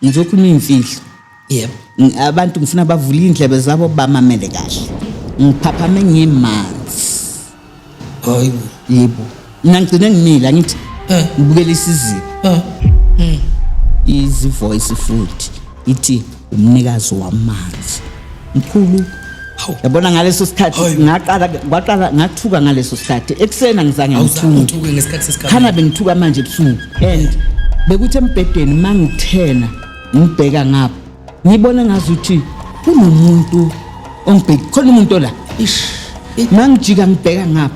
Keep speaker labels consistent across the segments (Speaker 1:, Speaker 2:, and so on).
Speaker 1: Ngizokhuluma imfihlo. Yebo.
Speaker 2: Abantu ngifuna
Speaker 1: bavule indlebe zabo bamamele kahle. Ngiphaphame ngimanzi.
Speaker 2: Hayi. Yebo.
Speaker 1: Mina ngigcine ngimile angithi eh ngibukela isiziba. Eh. Hmm. Izi voice futhi ithi umnikazi wamanzi. mkhulu Hawu. yabona ngaleso sikhathi Hayi. ngaqala kwaqala ngathuka ngaleso sikhathi ekuseni angizange ngithuke awuzangithuke ngesikhathi
Speaker 2: sesikhathi khana bengithuka manje
Speaker 1: ebusuku and bekuthi embhedeni uma ngithena ngibheka ngapha ngibone ngazuthi kunomuntu ongibheki khona umuntu ola ish uma ngijika ngibheka ngapha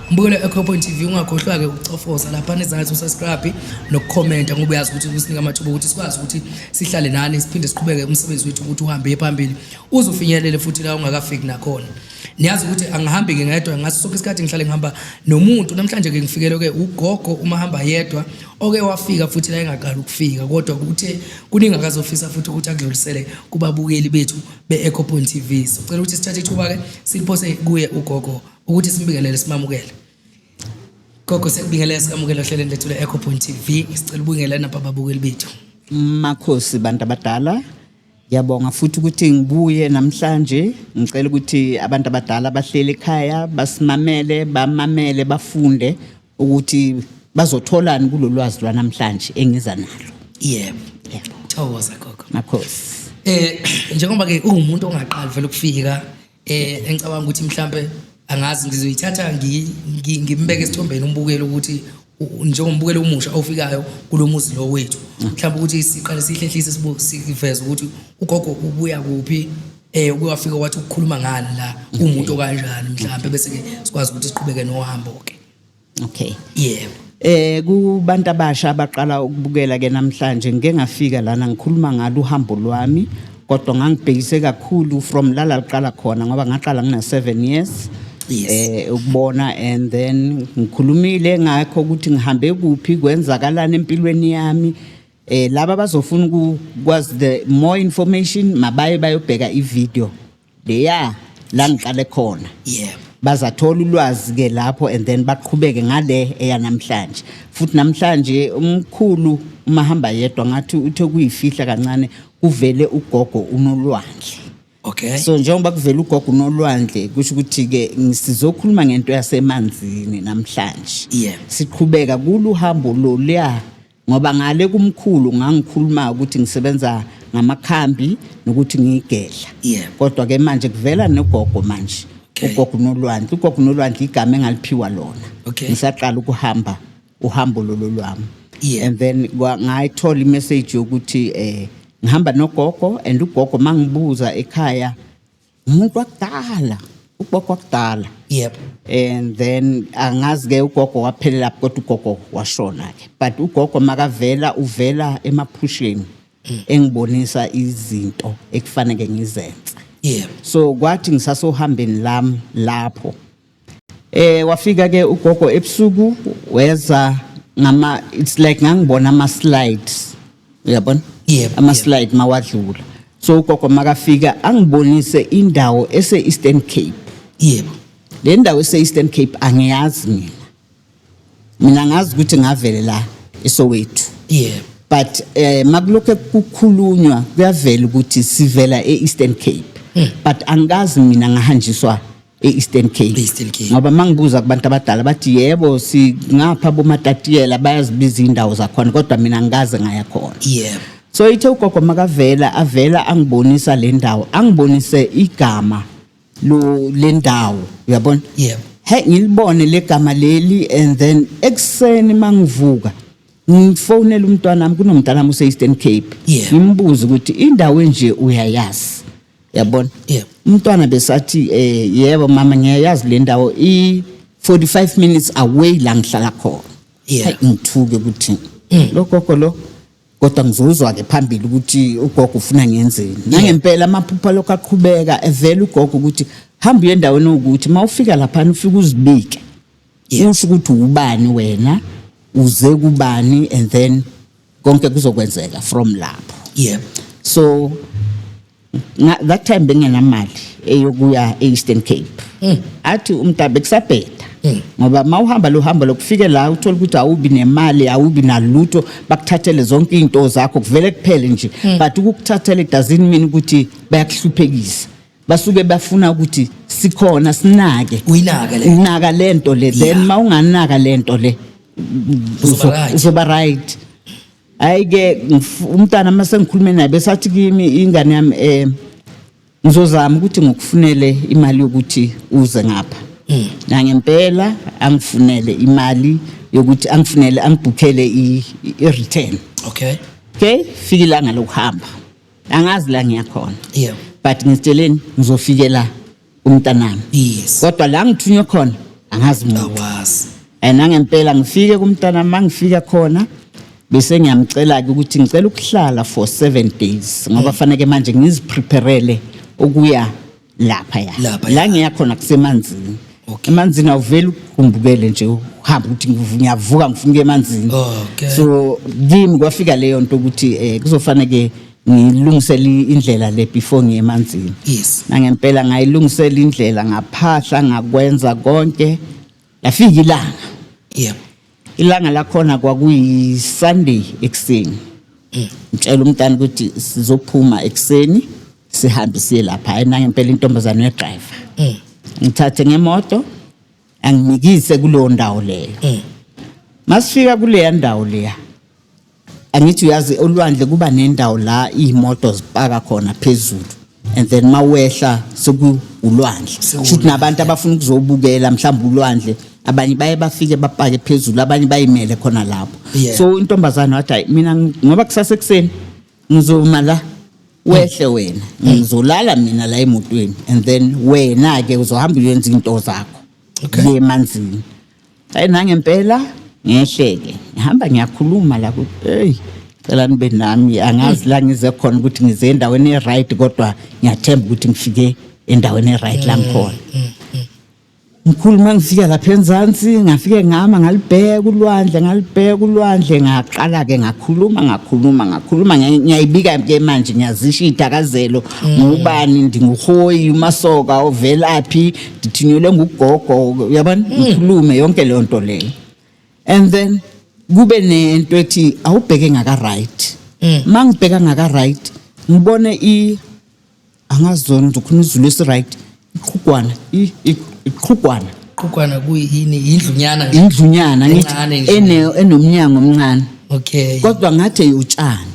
Speaker 2: Mbukelo Echo Point TV ungakhohlwa ke ukucofoza lapha nezansi usubscribe nokukhomenta ngoba uyazi ukuthi kusinika amathuba ukuthi sikwazi ukuthi sihlale nani siphinde siqhubeke umsebenzi wethu ukuthi uhambe phambili uzofinyelele futhi la ungakafiki nakhona niyazi ukuthi angihambi ke ngedwa ngaso sonke isikhathi ngihlale ngihamba nomuntu namhlanje ke ngifikele ke ugogo uma hamba yedwa oke wafika futhi la engaqala ukufika kodwa kuthe kuningi akazofisa futhi ukuthi akudlulisele kubabukeli bethu be-ecopoint tv sicela ukuthi sithathe ithuba ke siliphose kuye ugogo ukuthi simbingelele simamukele gogo sekubingelela sikamukele ohlelweni lethu le-echo point tv sicela ubungela nabha babukeli bethu makhosi
Speaker 1: bantu abadala Ngiyabonga futhi ukuthi ngibuye namhlanje ngicela ukuthi abantu abadala bahlele ekhaya basimamele bamamele bafunde ukuthi bazotholani kulolwazi lwanamhlanje engiza nalo. Yebo. Yebo.
Speaker 2: Thokoza gogo. Makhosi.
Speaker 1: Eh njengoba
Speaker 2: ke ungumuntu ongaqali vele ukufika eh engicabanga ukuthi mhlambe angazi ngizoyithatha ngimbeke esithombeni umbukele ukuthi njengombukelo omusha ofikayo kulomuzi lo wethu mm. mhlawumbe ukuthi siqale sihlehlise siveze ukuthi ugogo ubuya kuphi eh ukuyafika wathi ukukhuluma ngani la mm. umuntu kanjani mhlawumbe bese ke sikwazi ukuthi siqhubeke nohambo ke okay
Speaker 1: yebo eh
Speaker 2: kubantu abasha
Speaker 1: abaqala ukubukela ke namhlanje ngike ngafika lana ngikhuluma ngalo uhambo lwami kodwa ngangibhekise kakhulu from lala liqala khona ngoba ngaqala ngina 7 years Yes. eh
Speaker 2: ukubona and
Speaker 1: then ngikhulumile ngakho ukuthi ngihambe kuphi kwenzakalana empilweni yami eh laba bazofuna ukwazi the more information mabaye bayobheka ivideo leya la ngiqale khona yebo bazathola
Speaker 2: ulwazi
Speaker 1: ke lapho and then baqhubeke ngale eyanamhlanje futhi namhlanje umkhulu uma hamba yedwa ngathi uthe kuyifihla kancane kuvele ugogo unolwandle okay so
Speaker 2: njengoba kuvela
Speaker 1: ugogo unolwandle kusho ukuthi ke sizokhuluma ngento yasemanzini namhlanje yeah siqhubeka kuluhambo loluya ngoba ngale kumkhulu ngangikhuluma ukuthi ngisebenza ngamakhambi nokuthi ngiyigedla yeah. kodwa ke
Speaker 2: manje kuvela
Speaker 1: nogogo manje okay. ugogo
Speaker 2: nolwandle ugogo
Speaker 1: nolwandle igama engaliphiwa lona okay. ngisaqala
Speaker 2: ukuhamba
Speaker 1: uhambo lolo lwami yeah. and
Speaker 2: then
Speaker 1: ngayithola imessage yokuthi eh ngihamba nogogo and ugogo mangibuza ekhaya umuntu wakudala ugogo wakudala yep
Speaker 2: and then
Speaker 1: angazi ke ugogo waphelela kodwa ugogo washona ke but ugogo makavela uvela emaphusheni mm. engibonisa izinto ekufanele ngizenze yep so
Speaker 2: kwathi
Speaker 1: ngisasohambeni lami lapho Eh wafika ke ugogo ebusuku weza ngama it's like ngangibona ama slides. Uyabona? Yebo, Ama yebo. slide
Speaker 2: mawadlula.
Speaker 1: So ugogo makafika angibonise indawo ese Eastern Cape. yebo
Speaker 2: Le ndawo ese
Speaker 1: Eastern Cape angiyazi mina. mina ngazi ukuthi ngavele la eSoweto yeah
Speaker 2: but eh
Speaker 1: makulokho kukhulunywa kuyavela ukuthi sivela eEastern Cape hmm. but angikazi mina ngahanjiswa eEastern Cape Eastern Cape ngoba mangibuza kubantu abadala bathi yebo singapha bomatatiyela bayazibiza indawo zakhona kodwa mina ngikaze ngaya khona yeah so
Speaker 2: ithe ugogo
Speaker 1: makavela avela angibonisa le ndawo angibonise igama lo lendawo uyabona yebo he
Speaker 2: ngilibone
Speaker 1: legama leli and then ekseni mangivuka ngifonela umntwana wami kunomntana wami use Eastern Cape Yeah. ngimbuza ukuthi indawo enje uyayazi yabona Yeah. umntwana
Speaker 2: besathi
Speaker 1: eh yebo mama ngiyayazi le ndawo i 45 minutes away la ngihlala khona Yeah. Hayi, ngithuke
Speaker 2: ukuthi
Speaker 1: lo gogo lo kodwa ngizozwa-ke phambili ukuthi ugogo ufuna ngenzeni nangempela amaphupha lokho aqhubeka evela ugogo ukuthi hamba uye endaweni ukuthi uma ufika laphana ufike uzibike usho ukuthi ubani wena uze kubani and then konke kuzokwenzeka from lapho yebo so Nga- that time bengenamali eyokuya e-eastern cape Mm. athi umntabe kusabheda Mm. ngoba ma uhamba lo hambo lokufike la uthole ukuthi awubi nemali awubi nalutho bakuthathele zonke iy'nto zakho kuvele kuphele nje Mm. but ukukuthathela idazini mina ukuthi bayakuhluphekisa basuke bafuna ukuthi sikhona sinake uyinake le unaka le nto le then Yeah. ma unganaka le nto le Uzoba right. uzoba right hayi ke umntana uma sengikhulume naye besathi kimi ingane yami eh ngizozama ukuthi ngokufunele imali yokuthi uze ngapha mm. nangempela angifunele imali yokuthi angifunele angibhukhele i-return okay okay fike ilanga lokuhamba angazi la ngiyakhona yeah but ngitsheleni ngizofikela kumntanami yes kodwa la ngithunywe khona angazi muntu awazi and angempela ngifike kumntana mangifika khona bese ngiyamcela ke ukuthi ngicela ukuhlala for 7 days ngoba faneke manje ngizipreparele ukuya lapha ya Lapha ya. la ngiya khona kusemanzini Okay. emanzini awuveli ukumbukele nje uhamba ukuthi ngivu- ngiyavuka ngifuna ukuya emanzini Okay. so kimi kwafika leyo nto ukuthi eh kuzofaneke ngilungisela indlela le before ngiye emanzini yes nangempela ngayilungisela indlela ngaphahla ngakwenza konke lafika ilanga yeah ilanga lakhona kwakuyi Sunday ekuseni mm. ngitshela umntana ukuthi sizophuma ekuseni sihambe siye lapha ayinangempela intombazane yedriver mm. ngithathe ngemoto angimikise kuleyo ndawo leyo Eh. masifika kuleya ndawo leya angithi uyazi olwandle kuba nendawo la iy'moto zipaka khona phezulu and then uma wehla sekuwulwandle shuthi nabantu abafuna ukuzobukela mhlawumbe ulwandle abanye baye bafike bapake phezulu abanye bayimele khona lapho Yeah. so intombazane wathi hayi mina ng- ngoba kusasa ekuseni ngizoma la wehle wena ngizolala mina la emotweni and then wena ke uzohamba uyenza into zakho le manzini hayi nangempela ngehleke ngihamba ngiyakhuluma la ku hey cela nibe nami angazi la ngize khona ukuthi ngize endaweni e-right kodwa ngiyathemba ukuthi ngifike endaweni e-right la ngikhona Mkhulu uma ngifika lapha eMzansi ngafike ngama ngalibheka ulwandle ngalibheka ulwandle ngaqala-ke ngakhuluma ngakhuluma ngakhuluma ngiyayibika-ke manje ngiyazisho iy'dakazelo mm. ngubani ndinguhoyi umasoka ovelaphi ndithinyelwe ngugogo uyabona mm. ngikhulume yonke leyo nto leyo and then kube nento ethi awubheke ngaka-right mm. uma ngibheka ngaka-right ngibone angazi zona ngizokhuluma izulu esiright iqhugwana i- i- iqhugwana qhukwana kuyini yindlunyana nje? indlunyana ngithi Encane nje. ene- enomnyango omncane okay kodwa ngathi eyotshani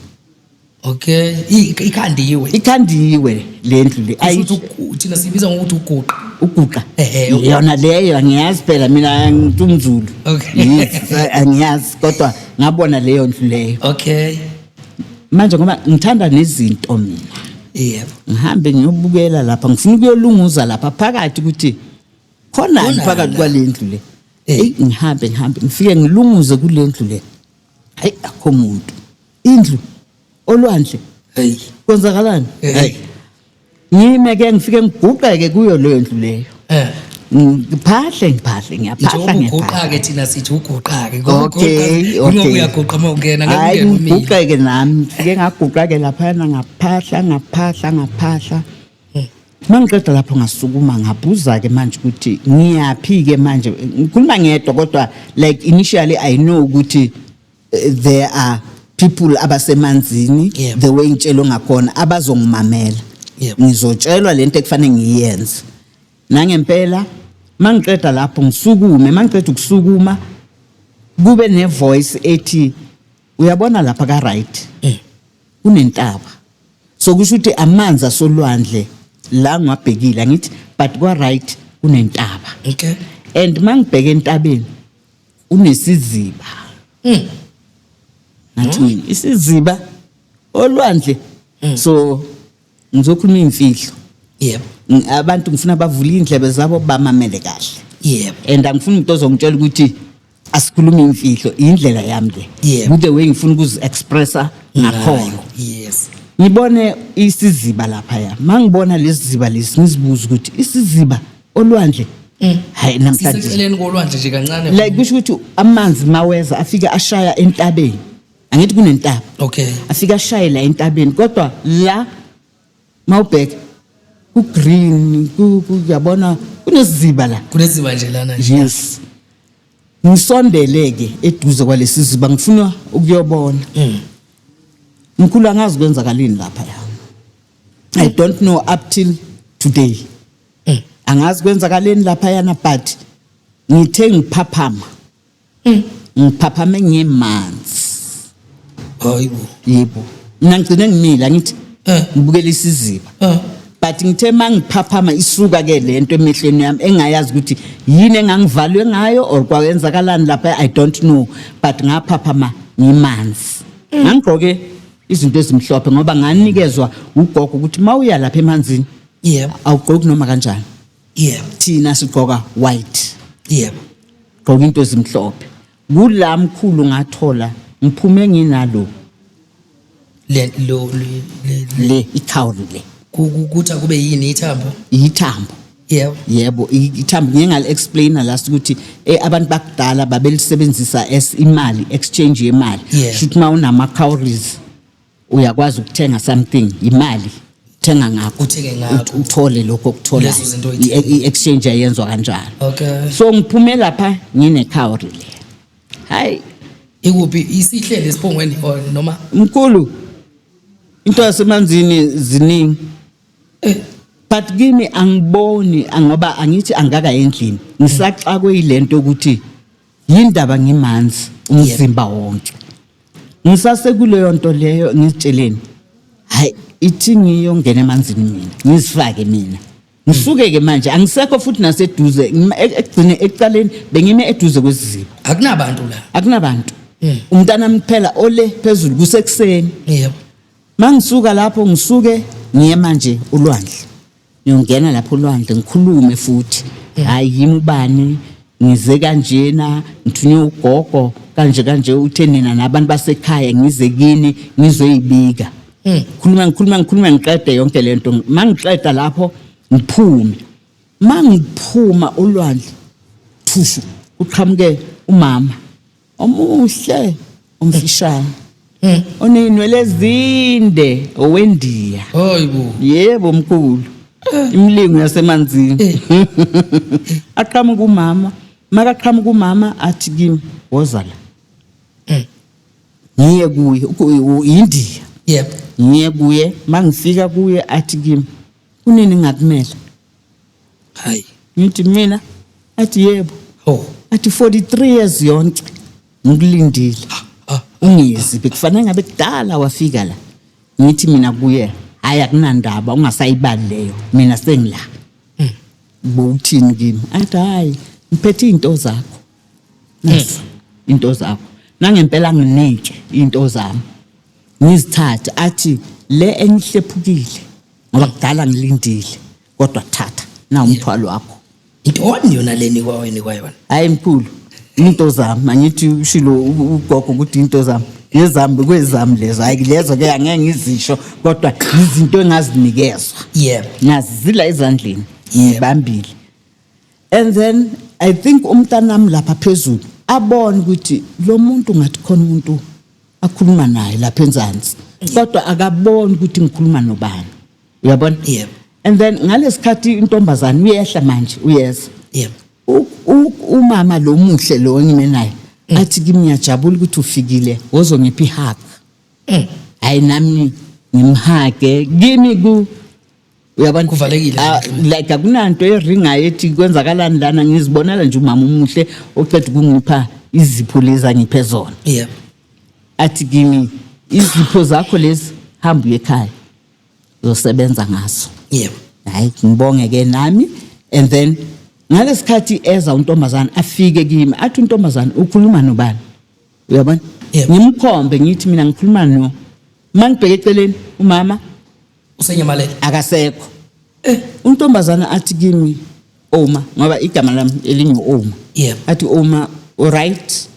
Speaker 1: okay I- ik- ikhandiwe ikhandiwe le ndlu le Kusho ayi ukuthi ugu- thina siyibiza ngokuthi
Speaker 2: uguqa uguqa
Speaker 1: Ehhe, uguqa. yona leyo angiyazi phela mina ngithi umzulu Okay. Yes, angiyazi kodwa ngabona leyo ndlu leyo okay manje ngoba ngithanda nezinto mina yebo ngihambe ngiyobukela lapha ngifuna ukuyolunguza lapha phakathi ukuthi khona phakathi kwalendlu le eh. hey ngihambe ngihambe ngifike ngilunguze kulendlu le hayi akho muntu indlu olwandle hey kwenzakalani hey Yime ke ngifike ngiguqeke kuyo leyo ndlu leyo. Eh. Ngiphahle ngiphahle ngiyaphahla
Speaker 2: ngiyaphahla. ke thina sithi uguqake ngoba okay, okay. uyaguqa uma ungena ngeke umile. Ngiguqeke nami ngike
Speaker 1: ngaguqake lapha na ngaphahla ngaphahla ngaphahla. Eh. Mangiqeda lapho ngasukuma ngabhuza ke manje ukuthi ngiyaphi ke manje ngikhuluma ngedwa kodwa like initially I know ukuthi there are people abasemanzini Yebo. the way ngitshelwe ngakhona abazongimamela Yebo. ngizotshelwa lento ekufanele ngiyenze nangempela mangiqeda lapho ngisukume mangiqeda ukusukuma kube ne voice ethi uyabona lapha ka right Eh. kunentaba so kusho ukuthi amanzi asolwandle la ngwabhekile angithi but kwa right kunentaba Okay. and mangibheke entabeni unesiziba mm. ngathi mina isiziba olwandle mm. so ngizokhuluma imfihlo yebo abantu ngifuna bavule indlebe zabo bamamele kahle yebo and angifuni umuntu ozongitshela ukuthi asikhuluma imfihlo indlela yami le yebo the way ngifuna ukuzi expressa ngakhona yes
Speaker 2: ngibone
Speaker 1: isiziba lapha ya mangibona lesiziba lesi ngizibuza ukuthi isiziba olwandle mm. hayi namhlanje siseceleni kolwandle nje
Speaker 2: kancane like kusho ukuthi
Speaker 1: amanzi maweza afike ashaya entabeni angithi kunentaba okay afike
Speaker 2: ashaye la
Speaker 1: entabeni kodwa la mawubheka ku green kuyabona kuneziziba la kuneziba nje lana nje
Speaker 2: yes
Speaker 1: ngisondeleke eduze kwalesi ziba ngifuna ukuyobona mm. mkhulu angazi kwenzakalini lapha la i don't know up till today mm. angazi kwenzakaleni lapha yana but ngithe ngiphaphama mm. ngiphaphame ngemanzi
Speaker 2: hayibo yebo
Speaker 1: mina ngigcine ngimile angithi eh. ngibukela isiziba eh. but ngithe mangiphaphama isuka ke lento emehlweni yami engayazi ukuthi yini engangivalwe ngayo or kwayenzakalani lapha i don't know but ngaphaphama ngimanzi mm. ngangigqoke izinto ezimhlophe ngoba nganikezwa ugogo ukuthi mawuya lapha emanzini yebo awugqoki noma kanjani yebo thina sigqoka white yebo gqoka into ezimhlophe kula mkhulu ngathola ngiphume nginalo le lo le- le- le- le itowel le ku- ku- kuthi akube
Speaker 2: yini ithambo yithambo
Speaker 1: yebo yebo i- ithambo ngike ngale-explaina last ukuthi eh, abantu bakudala babelisebenzisa as imali exchange yemali Yeah. shuthi uma unama-cowries uyakwazi ukuthenga something imali thenga ngakho Uthenge ngakho. ut- uthole
Speaker 2: lokho okuthola
Speaker 1: Lezo zinto oyithenga. i-exchange ayenzwa kanjalo Okay. so ngiphume
Speaker 2: lapha
Speaker 1: nginecowry le hayi Ikuphi
Speaker 2: isihlele esiphongweni or noma mkhulu
Speaker 1: into yasemanzini ziningi eh but kimi angiboni ngoba angithi angaka endlini ngisaxakwe yilento ukuthi yindaba ngimanzi umzimba wonke ngisasekuleyo nto leyo ngizitsheleni hayi ithi ngiyongena emanzini mina ngizifake mina ngisuke-ke manje angisekho futhi naseduze ngima- e- ekugcine ekuqaleni bengime eduze kwesiziba akunabantu la
Speaker 2: akunabantu Mm.
Speaker 1: umntanami kuphela ole phezulu kusekuseni yebo mangisuka lapho ngisuke ngiye manje ulwandle ngiyongena lapho olwandle ngikhulume futhi hhayi yimi ubani ngize kanjena ngithunywe ugogo kanje kanje uthe nina nabantu basekhaya ngize kini ngizoyibika hmm. khuluma ngikhuluma ngikhuluma ngiqede yonke le nto ma ngiqeda lapho ngiphume ma ngiphuma olwandle thushu kuqhamuke umama omuhle omfishane Eh. onezinwele ezinde owendiya Hayibo.
Speaker 2: yebo mkhulu
Speaker 1: imlingo yasemanzini Eh. aqhamuka umama makaqhamuka umama athi kimi woza la Eh. ngiye kuye uku- u- yindiya Yebo. ngiye kuye mangifika kuye athi kimi kunini ngakumela
Speaker 2: hayi ngithi mina
Speaker 1: athi yebo oh athi 43 years yonke ngikulindile ungizi bekufanele ngabe kudala wafika la ngithi mina kuye hayi akunandaba ungasayibali leyo mina sengila hmm. bowuthini kimi athi hayi ngiphethe izinto zakho nasi hmm. into zakho nangempela nginike into zami ngizithathe athi le engihlephukile ngoba kudala ngilindile kodwa thatha na umthwalo wakho intoni yona
Speaker 2: leni kwaweni kwayona hayi mkhulu
Speaker 1: into zami angithi ushilo ugogo ukuthi into zami yezami kwezami lezo hayi lezo ke angeke ngizisho kodwa izinto engazinikezwa yebo ngazizila ezandleni ngibambile and then i think umntanami lapha phezulu abone ukuthi lo muntu ngathi khona umuntu akhuluma naye lapha enzansi kodwa akaboni ukuthi ngikhuluma nobani uyabona yebo and then ngalesikhathi intombazane uyehla manje uyeza yebo umama lo muhle lo engime naye mm. athi kimi ngiyajabula ukuthi ufikile wozongipha ihaka eh. hayi nami ngimhage kimi ku uyabona kuvalekile ah,
Speaker 2: like akunanto
Speaker 1: eringayo ethi kwenzakalani lana ngizibonela nje umama umuhle oceda ukungipha izipho lezi angiphe zona yeah. athi kimi izipho zakho lezi hamba uye ekhaya uzosebenza ngazo yeah. hayi ngibonge ke nami and then ngalesikhathi eza untombazana afike kimi athi untombazana ukhuluma nobani uyabona yeah. ngimkhombe ngithi mina ngikhuluma no mangibheke eceleni umama usenyamalele
Speaker 2: akasekho
Speaker 1: Eh. untombazana athi kimi oma ngoba igama lami elingu oma Yebo. athi oma uright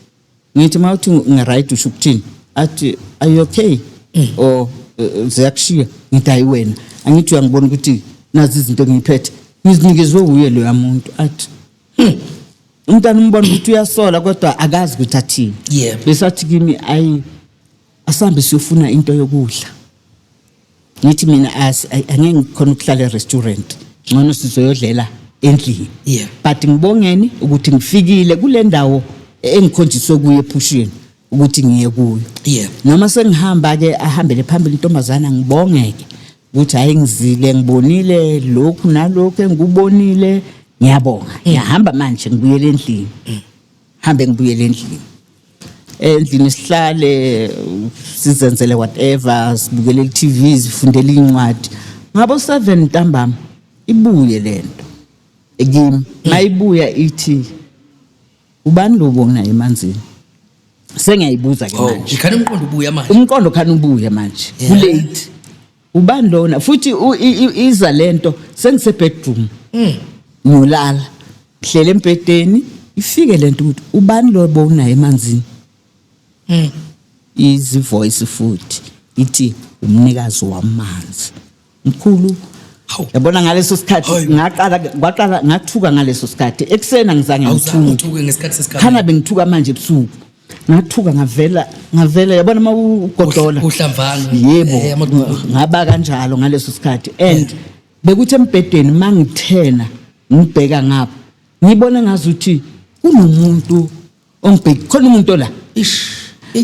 Speaker 1: ngithi uma uthi ngiright usho ukuthini athi are you okay Mm. or uh, ziyakushiya ngithi hayi wena angithi uyangibona ukuthi nazi izinto ngiyiphethe ngizinikezwe wuye loya muntu athi "Hmm, umntana umbona ukuthi uyasola kodwa akazi ukuthi athini Yebo. besathi kimi ayi asihambe siyofuna into yokudla ngithi mina as I- angeke ngikhona ukuhlala e-restaurant ngcono sizoyodlela endlini Yeah. but ngibongeni ukuthi ngifikile kule ndawo engikhonjiswe kuyo ephusheni ukuthi ngiye kuyo Yeah. noma sengihamba-ke ahambele phambili intombazana ngibongeke ukuthi hhayi ngizile ngibonile lokhu nalokhu engikubonile ngiyabonga ngiyahamba manje ngibuyele endlini hambe ngibuyele endlini endlini sihlale sizenzele whatever sibukele i-tv zifundele iy'ncwadi ngabo-seven ntambama ibuye le nto kimi mayibuya ithi ubani lobo nginaye emanzini sengiyayibuza ke oh, manje khani umqondo ubuya manje
Speaker 2: umqondo khani ubuye
Speaker 1: manje kulate ubani lona futhi u- i- i- iza lento sengise bedroom ngiyolala ngihlele embhedeni ifike lento ukuthi ubani lo bowunaye emanzini izi voice futhi ithi umnikazi wamanzi mkhulu Hawu. yabona ngaleso sikhathi Hayi. ngaqala kwaqala ngathuka ngaleso sikhathi ekuseni angizange awuzange ngithuke uthuke ngesikhathi sesikhathi khana
Speaker 2: bengithuka manje
Speaker 1: ebusuku ngathuka ngavela ngavela yabona uma ugodola uhlamvana
Speaker 2: yebo eh,
Speaker 1: ngaba kanjalo ngaleso sikhathi and bekuthi embhedeni mangithena ngibheka ngapha ngibona ngazuthi kunomuntu ongibheki khona umuntu la ish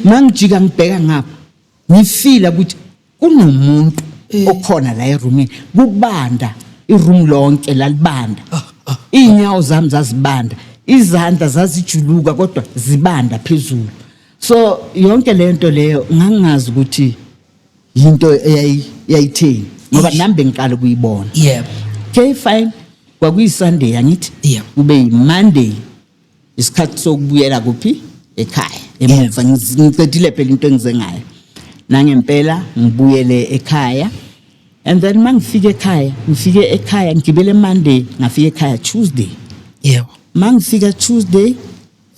Speaker 1: mangijika ngibheka ngapha ngifile ukuthi kunomuntu eh. okhona la erumini kubanda iroom lonke lalibanda ah, ah, ah. iy'nyawo zami zazibanda izandla zazijuluka kodwa zibanda phezulu so yonke le nto leyo ngangingazi ukuthi yinto eyayitheni ngoba nami bengiqala ukuyibona yebo okay fine kwakuyisunday angithi kube yimonday isikhathi sokubuyela kuphi ekhaya emuva ngiqedile phela into engize ngayo nangempela ngibuyele ekhaya and then uma ngifike ekhaya ngifike ekhaya ngigibele monday ngafika ekhaya tuesday yebo uma ngifika tuesday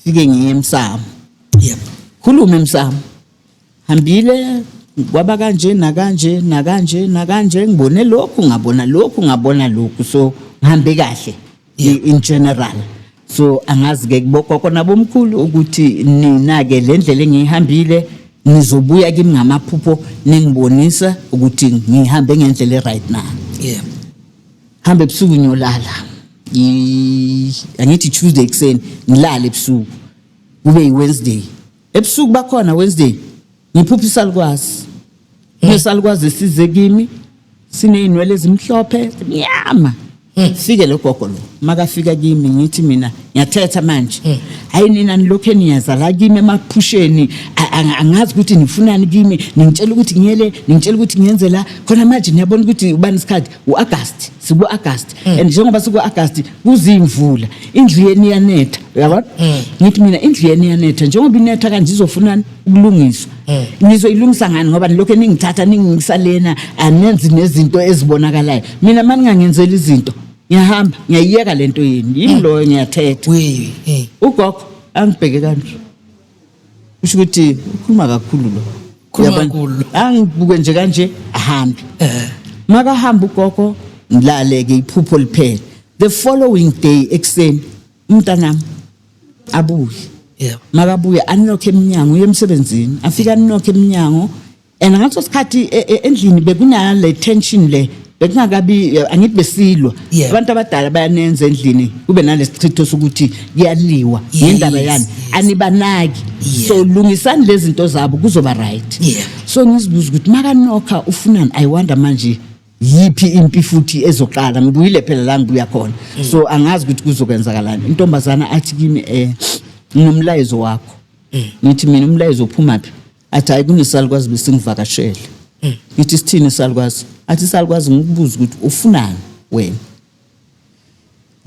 Speaker 1: fike ngiye emsamo yebo khulume emsamo Hambile kwaba kanje nakanje nakanje nakanje ngibone lokhu ngabona lokhu ngabona lokhu so ngihambe kahle in general so angazi ke kubogogo nabomkhulu ukuthi nina ke le ndlela engiyihambile nizobuya kimi ngamaphupho ningibonisa ukuthi ngihambe ngendlela e-right na yeah. hambe ebusuku ngiyolala angithi tuesday ekuseni ngilale ebusuku kube yi-wednesday Ebusuku bakhona Wednesday ngiphupha isalukwazi. Nesalukwazi size kimi sinezinwele ezimhlophe nyama. Fike lo gogo lo makafika kimi ngithi mina ngiyathetha manje. Hayi nina nilokho eniyaza la kimi emaphusheni a- a- angazi ukuthi nifunani kimi ningitshela ukuthi ngiyele ningitshela ukuthi ngiyenze la khona manje niyabona ukuthi ubani isikhathi u-agasti siku-agasti and njengoba siku-agasti kuziyimvula indlu yenu iyanetha uyabona ngithi mina indlu yenu iyanetha njengoba inetha kanje izofunani ukulungiswa nizoyilungisa ngani ngoba nilokhu ningithatha ningingisa lena anenzi nezinto ezibonakalayo mina uma ningangenzeli izinto ngiyahamba ngiyayiyeka le nto yenu yimi loyo ngiyathetha Wee, eh. ugogo angibheke kanje kusho ukuthi ukhuluma kakhulu lo Ukhuluma Uyabona? kakhulu. angibuke nje kanje ahambe Eh. makahamba ugogo ngilaleke iphupho liphele the following day ekuseni umntanami abuye Yebo. makabuye anilokhe eminyango uye emsebenzini afike anilokhe eminyango and ngaleso sikhathi e- e- endlini bekunale tension le bekungakabi eh, angithi besilwa Yeah. abantu abadala bayanenza endlini kube nalesichitho sokuthi kuyaliwa Yes, ngendaba yani yes. anibanaki Yeah. so lungisani lezi zinto zabo kuzoba right Yeah. so ngizibuza ukuthi makanokha ufunani i wonder manje yiphi impi futhi ezoqala ngibuyile phela la ngibuya khona Mm. so angazi ukuthi kuzokwenzakalani intombazana athi kimi um nginomlayezo wakho Mm. ngithi mina umlayezo uphumaphi athi hayi kunesalukwazi besingivakashele mm. ngithi sithini isalukwazi athi isalukwazi ngikubuza ukuthi ufunani wena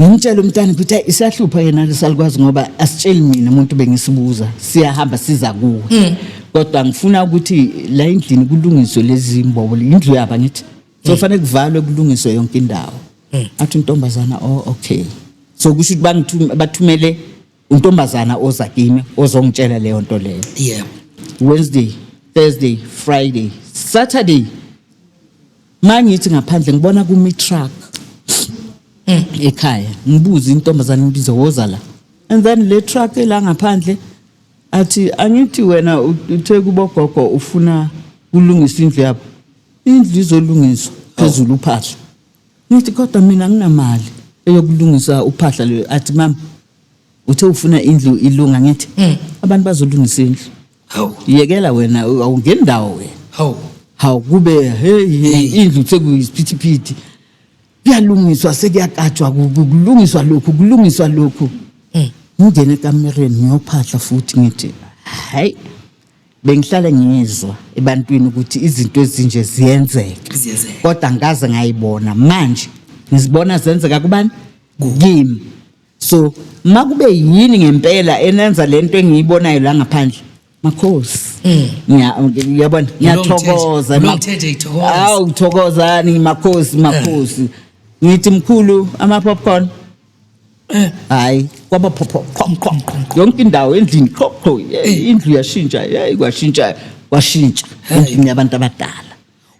Speaker 1: ngimtshela umntana ukuthi isahlupha yena lesalukwazi ngoba asitsheli mina umuntu bengisibuza siyahamba siza kuwe mm. kodwa ngifuna ukuthi la endlini kulungiswe lezi mbobo indlu yaba ngithi so mm. fanele kuvalwe kulungiswe yonke indawo athi intombazana oh okay so kusho ukuthi bathumele untombazana oza kimi ozongitshela leyo nto leyo yeah wednesday thursday friday saturday mangithi ngaphandle ngibona kumi truck mm. ekhaya ngibuza intombazana ngibize woza la and then le truck ela ngaphandle athi angithi wena uthe kubogogo ufuna kulungisa indlu yabo indlu izolungiswa phezulu uphahla Ngithi kodwa mina anginamali eyokulungisa uphahla lwe athi mama uthe ufuna indlu ilunga ngithi Mm. abantu bazolungisa indlu Hawu. yekela wena awungeni ndawo wena Hawu. hawu kube hey hey, Hey. indlu sekuyisiphithiphithi kuyalungiswa sekuyakatshwa ku- ku- kulungiswa lokhu kulungiswa lokhu Mm. ngingene ekamereni ngiyophahla futhi ngithi hayi bengihlale ngizwa ebantwini ukuthi izinto ezinje ziyenzeka kodwa ngikaze ngayibona manje ngizibona zenzeka kubani kimi so uma kube yini ngempela enenza le nto engiyibonayo la ngaphandle makhosi mm. ngiyabona ngiyathokoza awu thokozani makhosi makhosi eh. ngithi mkhulu ama-popcorn hayi kwaba phopho qhom qhom qhom qhom. yonke indawo endlini qho qho eh, indlu yashintsha hey kwashintsha kwashintsha Hey. endlini yabantu abadala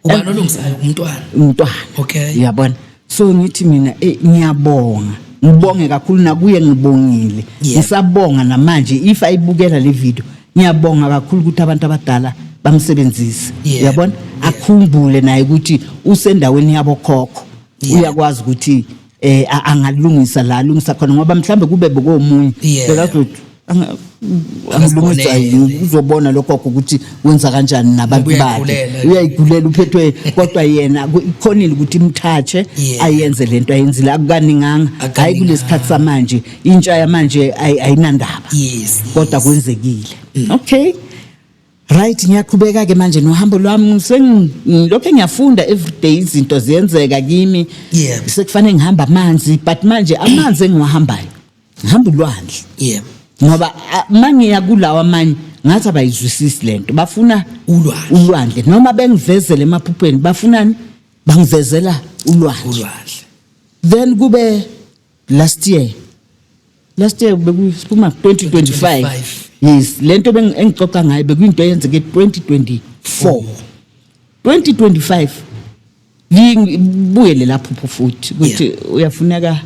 Speaker 1: ubani olungisayo
Speaker 2: umntwana umntwana
Speaker 1: Okay. uyabona
Speaker 2: so
Speaker 1: ngithi mina eh, ngiyabonga ngibonge kakhulu nakuye ngibongile Yeah. ngisabonga namanje if ayibukela le video ngiyabonga kakhulu ukuthi abantu abadala bamsebenzise Yeah. uyabona Yeah. akhumbule naye ukuthi usendaweni yabokhokho Yeah. uyakwazi ukuthi eh a- angalungisa la alungisa khona ngoba mhlambe kube bokomunye Yeah. bekazothi "Anga- angilungisa Akasibonele. yini uzobona lokho ukuthi wenza kanjani nabantu Ngoba bakhe uyayigulela. uyayigulela uphethwe kodwa yena ku- ikhonile ukuthi imthathe Yeah. ayenze lento ayenzile akukaninganga hayi Akukaninganga. kulesikhathi samanje intsha yamanje ayi- ayinandaba yes kodwa yes. kwenzekile okay Right ngiyaqhubeka ke manje nohambo lwami sengilokho ngiyafunda everyday izinto ziyenzeka kimi yeah. sekufanele ngihamba amanzi but manje amanzi engiwahambayo ngihamba ulwandle yeah. ngoba mangiya kulawa amanye ngathi abayizwisisi lento bafuna ulwandle ulwandle noma bengivezele emaphuphweni bafunani bangivezela ulwandle ulwandle then kube last year last year bekuphuma 2025 yes lento engixoxa ngayo bekuyinto eyenzeke 2024 2025 ngibuyele lapho pho futhi ukuthi uyafuneka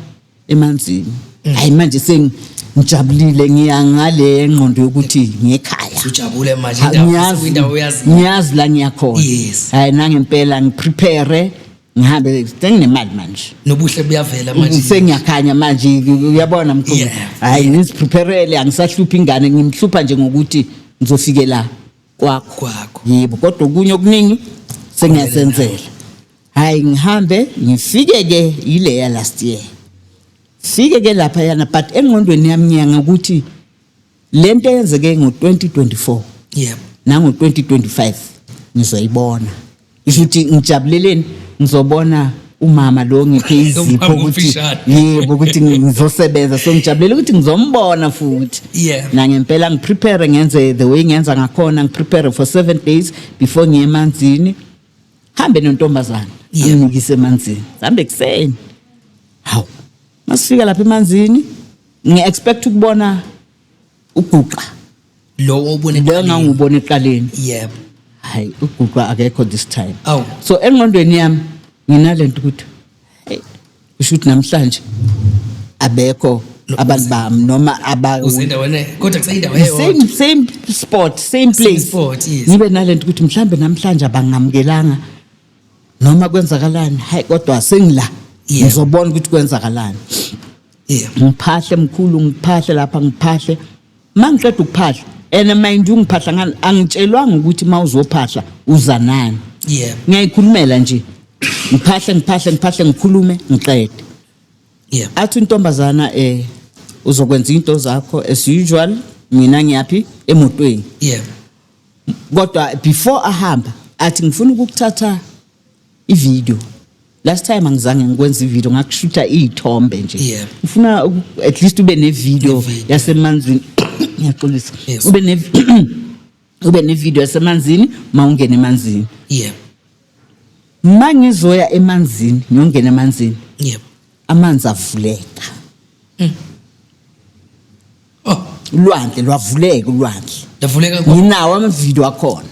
Speaker 1: emanzini mm. hayi manje seng ngijabulile ngiyangale ngqondo yokuthi ngekhaya ujabule manje
Speaker 2: indawo indawo uyazi ngiyazi la ngiyakhona
Speaker 1: yes hayi nangempela ngiprepare ngihambe senginemali manje nobuhle buyavela
Speaker 2: manje sengiyakhanya manje
Speaker 1: uyabona mkhulu hayi ngiziprepare angisahluphi ingane ngimhlupha nje ngokuthi ngizofike la kwakho kwakho yebo kodwa okunye okuningi sengiyasenzela hayi ngihambe ngifike ke yileya last year fike ke lapha yana but engqondweni yami ngiyanga ukuthi Le nto eyenzeke ngo-2024 yebo nango-2025 ngizoyibona isho ukuthi ngijabuleleni ngizobona umama lo ngiphe izipho ukuthi yebo ukuthi ngizosebenza so ngijabulela ukuthi ngizombona futhi yeah. nangempela ngiprepare ngenze the way ngenza ngakhona ngiprepare for seven days before ngiye emanzini hambe nontombazana amnikise emanzini sambe ekuseni hawu masifika lapha emanzini ngi-expect ukubona uguqa lowo
Speaker 2: obone leyo ngangubona
Speaker 1: eqaleni yebo hayi uguqa akekho this time Awu. so engqondweni yami nginalento ukuthi hey kusho ukuthi namhlanje abekho abantu bami noma aba uzendaweni e-, kodwa
Speaker 2: kuseyindawo eyodwa same same spot
Speaker 1: same place spot, yes. ngibe nalento ukuthi mhlambe namhlanje abangamukelanga noma kwenzakalani hayi kodwa sengila Yebo. ngizobona ukuthi kwenzakalani yeah ngiphahle mkhulu ngiphahle lapha ngiphahle uma ngiqeda ukuphahla and mind you ngiphahla ngani angitshelwanga ukuthi uma uzophahla uza nani yeah ngiyayikhulumela nje ngiphahle ngiphahle ngiphahle ngikhulume ngiqede yeah athi intombazana eh uzokwenza into zakho as usual mina ngiyaphi emotweni yeah kodwa before ahamba athi ngifuna ukuthatha ivideo last time angizange ngikwenza ivideo ngakushutha iy'thombe nje Yeah. ngifuna uku- at least ube nevideo Nevideo. yasemanzini ngiyaxolisa Yes. ube ne ube nevideo yasemanzini ma ungena emanzini yebo ma ngizoya emanzini ngiyongena emanzini yebo amanzi avuleka Oh, ulwandle lwavuleka ulwandle lavuleka kwa- nginawo amavidiyo akhona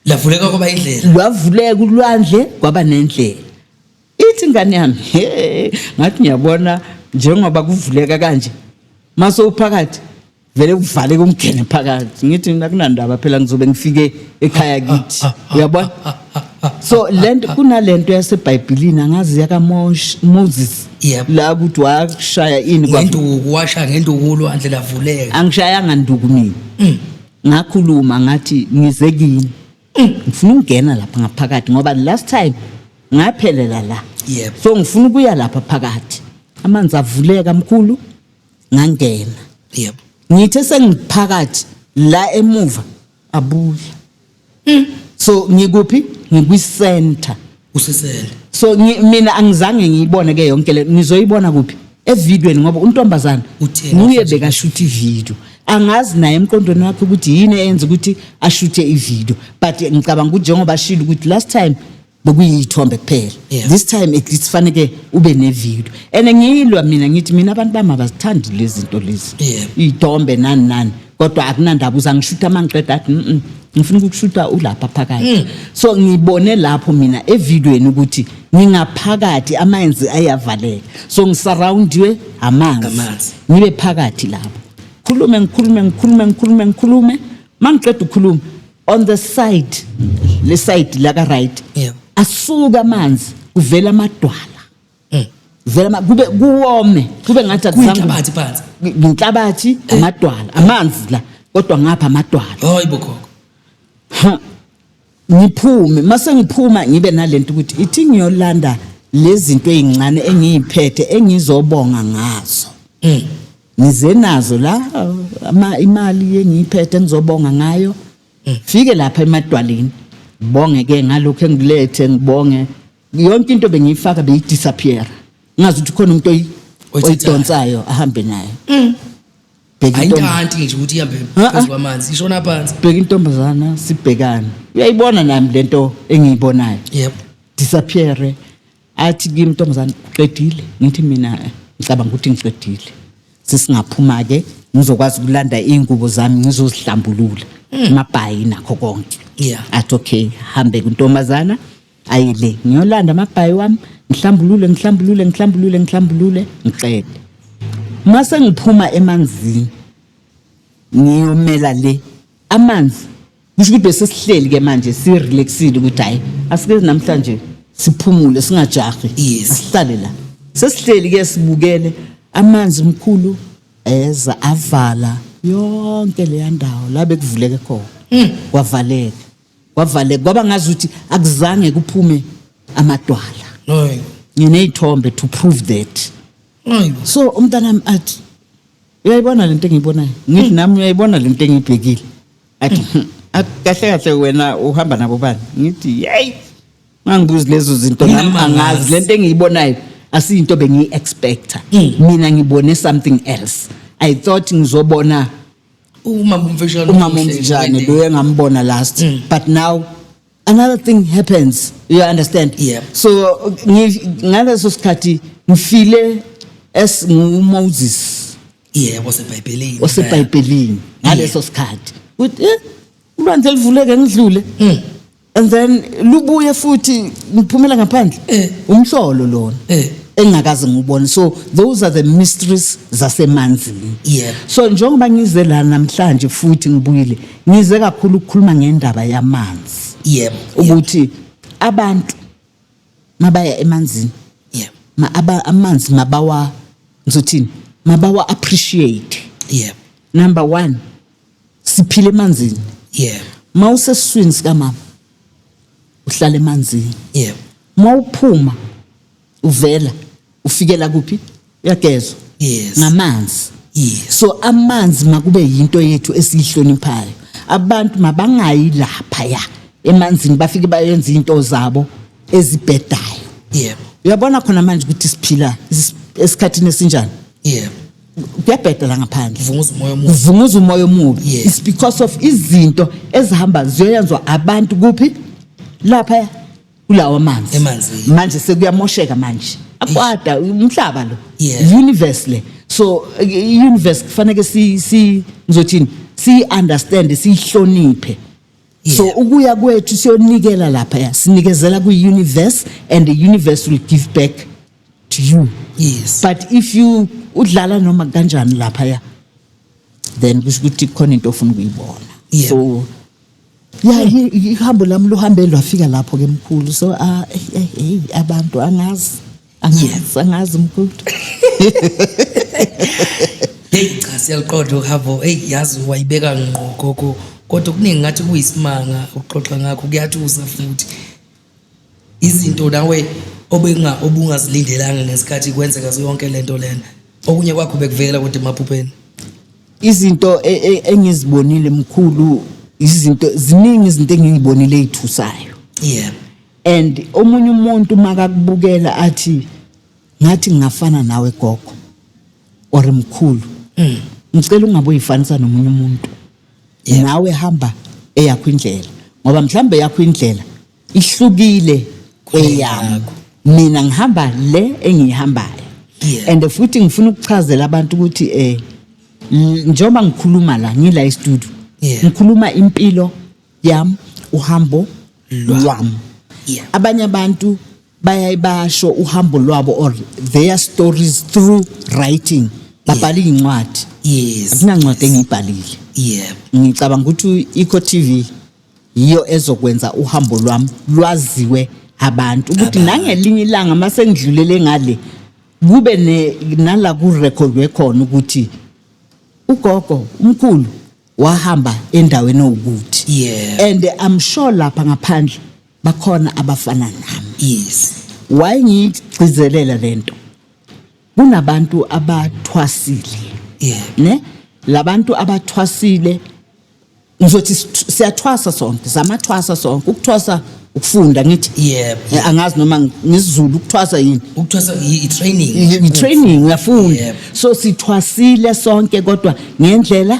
Speaker 2: lavuleka kwaba indlela. lwavuleka ulwandle
Speaker 1: kwaba nendlela ithi ingane yami he ngathi ngiyabona njengoba kuvuleka kanje mase uphakathi vele kuvaleke umgene phakathi ngithi mina kunandaba phela ngizobe ngifike ekhaya kithi uyabona so lento kunalento yasebhayibhilini angazi yakamosh moses Yep. la ukuthi washaya ini kwa- ngenduku washa
Speaker 2: ngenduku ulwandle lavuleka angishayanga nduku
Speaker 1: mina Mm. ngakhuluma ngathi ngize kini Mm. ngifuna ukungena lapha ngaphakathi ngoba last time ngaphelela la Yep. so ngifuna ukuya lapha phakathi amanzi avuleka mkhulu ngangena yebo ngithe sengiphakathi la emuva abuye mm. so ngikuphi ngikwi-center usisele
Speaker 2: so mina
Speaker 1: angizange ngiyibone ke yonke le ngizoyibona kuphi evidweni ngoba untombazana nguye bekashutha ividiyo angazi naye emqondweni wakhe ukuthi yini eyenza ukuthi ashuthe ividiyo but ngicabanga ukuthi njengoba ashile ukuthi last time bekuyiyithombe kuphela yeah. this time at least faneke ube nevideo and ngiyilwa mina ngithi mina abantu bami abazithandi lezi zinto lezi yeah. iyithombe nani nani kodwa akunandaba uza ngishutha uma ngiqeda athi mm ngifuna ukukushutha ulapha phakathi mm. so ngibone lapho mina evidweni ukuthi ngingaphakathi amanzi ayavaleka so ngisurroundiwe amanzi ngibe phakathi lapho khulume ngikhulume ngikhulume ngikhulume ngikhulume mangiqeda ukukhuluma on the side le side la ka right Yeah. asuka amanzi kuvela amadwala Mm. vela ama- kube kuwome kube ngathi akuzange- Kuyinhlabathi phansi. Ngi-
Speaker 2: nginhlabathi
Speaker 1: amadwala amanzi la kodwa ngapha amadwala Hayi bo gogo.
Speaker 2: ha
Speaker 1: ngiphume mase ngiphuma ngibe nalento ukuthi ithi ngiyolanda lezinto ezincane engiyiphethe engizobonga ngazo Mm. ngize nazo la ama imali yengiyiphethe ngizobonga ngayo fike lapha emadwaleni bonge ke ngalokho engilethe ngibonge yonke into bengiyifaka beyidisappear ngazi ukuthi khona umuntu oyi- Oyithathayo. oyidonsayo ahambe nayo bheka hayi into entomb-
Speaker 2: ntanti nje ukuthi ihambe Ah, ah. phezu kwamanzi ishona phansi bheka intombazana
Speaker 1: sibhekane uyayibona nami lento engiyibonayo yebo disappear athi kimi ntombazane uqedile ngithi mina ngicabanga ukuthi ngiqedile sesingaphuma-ke ngizokwazi ukulanda iy'ngubo zami ngizozihlambulula mm. amabhayi nakho konke yeah. athi okay hambe kuntombazana aye le ngiyolanda amabhayi wami ngihlambulule ngihlambulule ngihlambulule ngihlambulule ngiqede uma sengiphuma emanzini ngiyomela le amanzi kusho ukuthi bese sihleli ke manje si relaxile ukuthi hayi asike namhlanje siphumule singajahi Yes. asihlale la sesihleli ke sibukele amanzi mkhulu eza avala yonke leya ndawo la bekuvuleke khona Hmm. kwavaleka kwavaleka kwaba ngazi ukuthi akuzange kuphume amadwala Hayi. nginey'thombe to prove that Hayi. so umntanami athi uyayibona lento engiyibonayo ngithi hmm. nami uyayibona lento engiyibhekile athi hmm. kahle kahle wena uhamba nabo bani ngithi yeyi mangibuzi lezo zinto nami angazi lento engiyibonayo asiyinto bengiyi-expecta hmm. mina ngibone something else i thought ngizobona umama umfishane umama umfishane lo engambona last mm. but now another thing happens you understand Yeah. so ngi- ngaleso sikhathi ngifile as ngumoses yebo sebhayibhelini osebhayibhelini ngaleso sikhathi ukuthi eh, ulwandle livuleke ngidlule Mm. and then lubuye futhi ngiphumela ngaphandle Eh. umhlolo lona Eh. engingakaze ngubone so those are the mysteries zasemanzini Yebo. so njengoba ngize la namhlanje futhi ngibuyile Ngize kakhulu ukukhuluma ngendaba yamanzi. Yebo. Ukuthi abantu mabaya emanzini. Yebo. Ma aba amanzi mabawa ngizothini? Mabawa appreciate. Yebo. Number 1 siphile emanzini. Yebo. Mawusesiswini sikamama uhlala emanzini. Yebo. Mawuphuma uvela ufikela kuphi uyagezwa Yes. ngamanzi Yes. so amanzi makube yinto yethu esiyihloniphayo abantu mabangayi lapha ya emanzini bafike bayenza into zabo ezibhedayo Yebo. uyabona khona manje ukuthi siphila is- esikhathini esinjani Yebo. kuyabheda la ngaphandle Vunguza umoya omubi. kuvunguza umoya omubi Yes. it's because of izinto ezihamba ziyoyenzwa abantu kuphi lapha kulawa manzi Emanzini. manje sekuyamosheka manje akwada umhlaba lo Yeah. universe le so i- universe kufanele si si ngizothini si understand siyihloniphe so Yeah. ukuya kwethu siyonikela lapha ya sinikezela kwi universe and the universe will give back to you yes but if
Speaker 2: you
Speaker 1: udlala noma kanjani lapha ya then kusho ukuthi khona into ofuna ukuyibona Yeah. so ya i- i- ihambo lami luhambe lwafika lapho ke mkhulu so ah, eh, eh, hey abantu angazi angazi angazi mkhulu
Speaker 2: heyi cha siyaliqonda uhambo eyi yazi wayibeka ngqo gogo kodwa okuningi ngathi kuyisimanga ukuxoxa ngakho kuyathusa futhi izinto nawe obenga obungazilindelanga ngesikhathi kwenzeka zonke lento lena okunye kwakho bekuvela kodwa emaphupheni izinto
Speaker 1: e- e- engizibonile mkhulu izinto ziningi izinto engizibonile ezithusayo yeah
Speaker 2: and
Speaker 1: omunye umuntu makakubukela athi ngathi ngingafana nawe gogo or mkhulu ngicela ungabe uyifanisa nomunye umuntu nawe hamba eyakho indlela ngoba mhlambe yakho indlela ihlukile kweyami mina ngihamba le engiyihambayo yeah. and futhi ngifuna ukuchazela abantu ukuthi eh njengoba ngikhuluma la ngila estudio yeah. ngikhuluma impilo yam uhambo lwam yeah. abanye abantu bayayibasho uhambo lwabo or their stories through writing babhala iy'ncwadi yes akunancwadi
Speaker 2: engiyibhalile
Speaker 1: yebo
Speaker 2: ngicabanga ukuthi
Speaker 1: ikho tv yiyo ezokwenza uhambo lwami lwaziwe abantu ukuthi Abantu. nangelinye ilanga uma sengidlulele ngale kube ne- nala kurekhodwe khona ukuthi ugogo umkhulu wahamba endaweni ewukuthi yebo and i'm
Speaker 2: sure
Speaker 1: lapha ngaphandle bakhona abafana nami yes
Speaker 2: why
Speaker 1: ngigcizelela lento kunabantu abathwasile yeah
Speaker 2: ne
Speaker 1: labantu abathwasile ngizothi siyathwasa sonke samathwasa sonke ukuthwasa ukufunda ngithi yebo eh, angazi
Speaker 2: noma
Speaker 1: ngisizulu ukuthwasa yini ukuthwasa i
Speaker 2: training i training
Speaker 1: uyafunda so
Speaker 2: sithwasile
Speaker 1: sonke kodwa ngendlela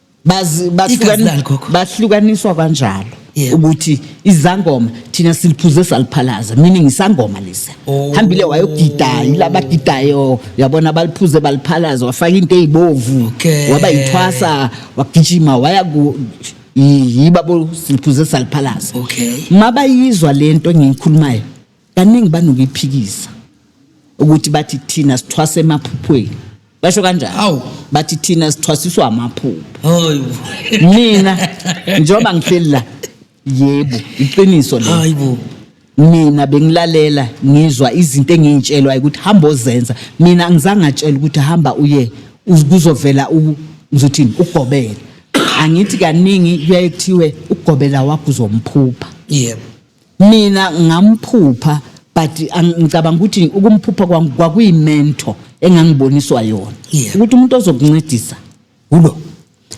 Speaker 1: Bazi- Igazi bahlukani- lani, gogo? bahlukaniswa kanjalo Yebo. ukuthi izangoma thina siliphuze saliphalaza meaning isangoma lesa Oh. hambile wayogida yilabagidayo yabona baliphuze baliphalaza wafaka into eyibovu Okay. waba yithwasa wagijima waya ku yi- yibabo siliphuze saliphalaza Okay. mabayizwa lento engiyikhulumayo Kaningi banokuyiphikisa ukuthi bathi thina sithwasa emaphuphweni. Basho kanjani? Awu. Bathi thina sithwasiswa amaphupho. Hayibo. Mina njengoba ngihleli la yebo iqiniso lelo. Hayibo.
Speaker 2: mina
Speaker 1: bengilalela ngizwa izinto engiyitshelwayo ukuthi hamba ozenza mina ngizange atshela ukuthi hamba uye uz- kuzovela u- ngizothini ugobela angithi kaningi kuyaye kuthiwe ugobela wakho uzomphupha Yebo.
Speaker 2: Mina
Speaker 1: ngamphupha but ngicabanga ukuthi ukumphupha kwami kwakuyimento engangiboniswa yona Yeah. ukuthi umuntu ozokuncedisa ulo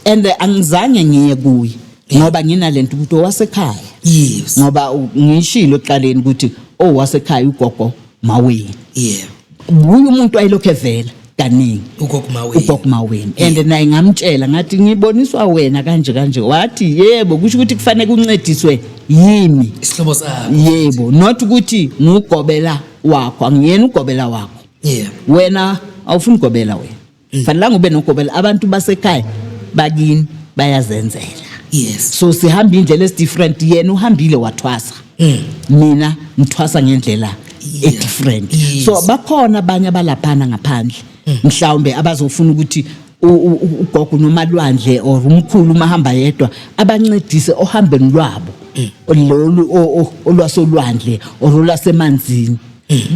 Speaker 1: and eh, angizange ngiye kuye ngoba nginalento ukuthi owasekhaya yes ngoba
Speaker 2: u- ngishilo
Speaker 1: ekuqaleni ukuthi owasekhaya ugogo Maweni. Yeah.
Speaker 2: Nguye umuntu
Speaker 1: ayilokho evela kaningi. Ugogo Maweni. Ugogo Maweni. And naye ngamtshela ngathi ngiboniswa wena kanje kanje. Wathi yebo kusho ukuthi kufanele kuncediswe yimi. Isihlobo sakho.
Speaker 2: Yebo, not ukuthi
Speaker 1: ngugobela wakho, angiyena ugobela wakho. Yeah. Wena awufuni ugobela wena. mm. fanelanga ube nogobela abantu basekhaya bakini bayazenzela yes so
Speaker 2: sihamba indlela
Speaker 1: esi different yena uhambile wathwasa mm. mina ngithwasa ngendlela e different yes. so bakhona abanye abalaphana ngaphandle mm. mhlawumbe abazofuna ukuthi ugogo nomalwandle or umkhulu uma hamba yedwa abancedise ohambeni lwabo mm. lolu olwasolwandle or olwasemanzini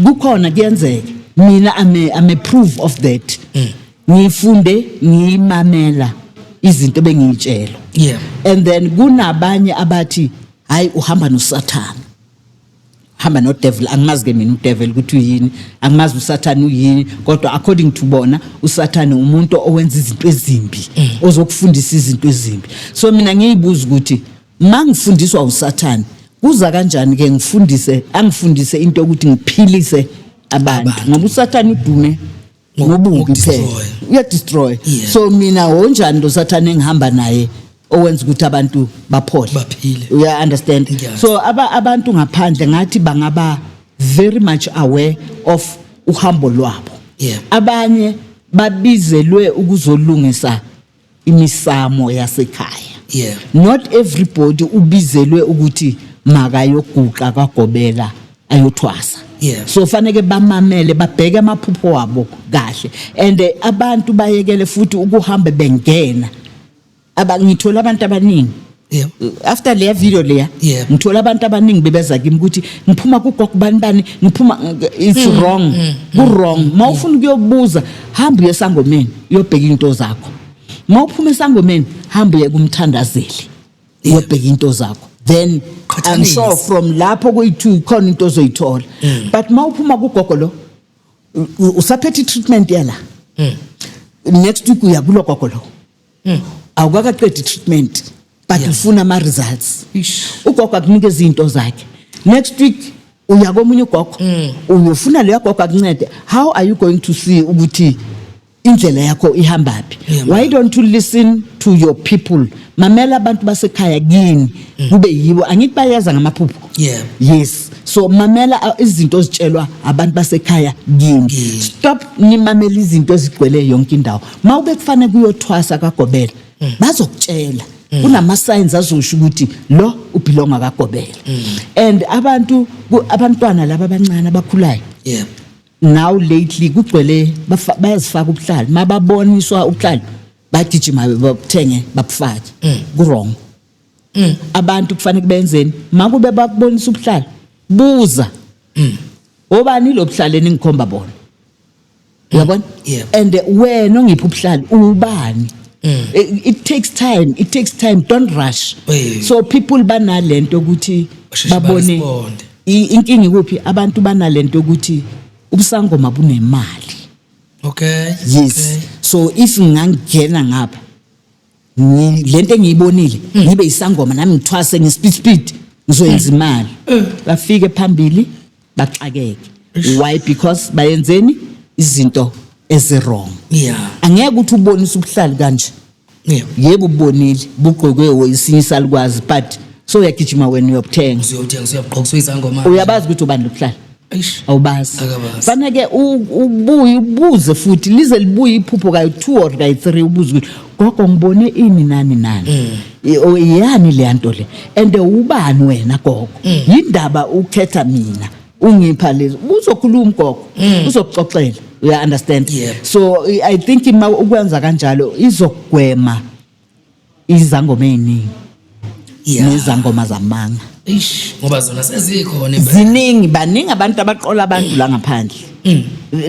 Speaker 1: kukhona kuyenzeka mina I'm a, I'm a proof of that ngifunde ngiyimamela izinto bengiyitshela Yeah. and
Speaker 2: then
Speaker 1: kunabanye abathi hayi uhamba nosathana hamba nodevil angimazi ke mina udevil ukuthi uyini angimazi usathane uyini kodwa according to bona usathane umuntu owenza izinto ezimbi ozokufundisa izinto ezimbi so mina ngiyibuza ukuthi Mangifundiswa uSathane kuza kanjani ke ngifundise angifundise into ukuthi ngiphilise abantu ngoba uSathane udume ngobubi kuphela uya destroy so mina wonjani lo Sathane engihamba naye owenza ukuthi abantu baphole baphile uya
Speaker 2: understand
Speaker 1: so aba abantu ngaphandle ngathi bangaba very much aware of uhambo lwabo abanye babizelwe ukuzolungisa imisamo yasekhaya yeah. not everybody ubizelwe ukuthi makayoguqa kwagobela ayothwasa yeah. so faneke bamamele babheke amaphupho wabo kahle and eh, abantu bayekele futhi ukuhambe bengena abangithola abantu abaningi Yeah. after leya video leya Yeah. ngithola abantu abaningi bebeza kimi ukuthi ngiphuma kugogo bani bani ngiphuma it's Mm, wrong ku-wrong ma ufuna ukuyobuza hamba uye esangomeni uyobheka iy'nto zakho ma uphuma esangomeni hamba uye kumthandazeli uyobheka iy'nto zakho then i'm Qhathanisa. sure from lapho kuyi-two khona into ozoyithola Mm. but ma uphuma kugogo lo u- u- usaphethe i-treatment yala Mm. next week uya kulo gogo lo mm. awukakaqedi treatment but yeah. ufuna ama results ugogo akunika izinto zakhe next week uya komunye ugogo mm. uyofuna leyo gogo akuncede how are you going to see ukuthi indlela yakho ihamba phi yeah, why don't you listen to your people mamela abantu basekhaya kini mm. kube yibo angithi bayeza ngamaphupho yeah. yes so mamela uh, izinto ozitshelwa abantu basekhaya kini stop nimamela izinto ezigcwele yonke indawo uma ube kufanele kuyothwasa kagobela mm. bazokutshela mm. kunama signs azosho ukuthi lo ubelonga kagobela mm. and abantu abantwana laba abancane abakhulayo yeah now lately kugcwele bayazifaka ubuhlali mababoniswa ubuhlali bagijima babuthenge babufake mm. kurong mm. abantu kufanele benzeni makube bakubonisa ubuhlali buza mm. obani lobuhlali eningikhomba bona yabona Yebo. and eh, wena ongiphi ubuhlali ubani Eh, it takes time it takes time don't rush Mm. Eh. so people banalento ukuthi Basheshe babone ba-responde. i- inkinga ikuphi abantu banalento ukuthi ubusangoma bunemali okay yes okay. so if ngangena ngapha ngi- lento engiyibonile ngibe yisangoma nami ngithwase nge-speed speed ngizoyenza imali bafike phambili baxakeke why because bayenzeni izinto ezi-wrong Yeah. angeke ukuthi ubonise ubuhlali kanje Yeah. yebo ubonile bugqokwe wesinye isalukwazi but so uyagijima wena uyokuthenga Uzothenga usuyabugqoka usuyizangoma.
Speaker 2: uyabazi ukuthi ubani lobuhlali
Speaker 1: awubazi fana ke ubuye ubuze futhi lize libuye iphupho kayi two or kayi three ubuze ukuthi gogo ngibone ini nani nani mm. yani le nto le and ubani wena gogo mm. yindaba ukhetha mina ungipha lezi uzokhuluma gogo mm. uzokuxoxela uya understand so i think uma ukwenza kanjalo izogwema izangoma eziningi Yeah. nezangoma zamanga Eish, ngoba zona
Speaker 2: sezikhona impela. ziningi baningi
Speaker 1: abantu abaqola abantu la ngaphandle Mm.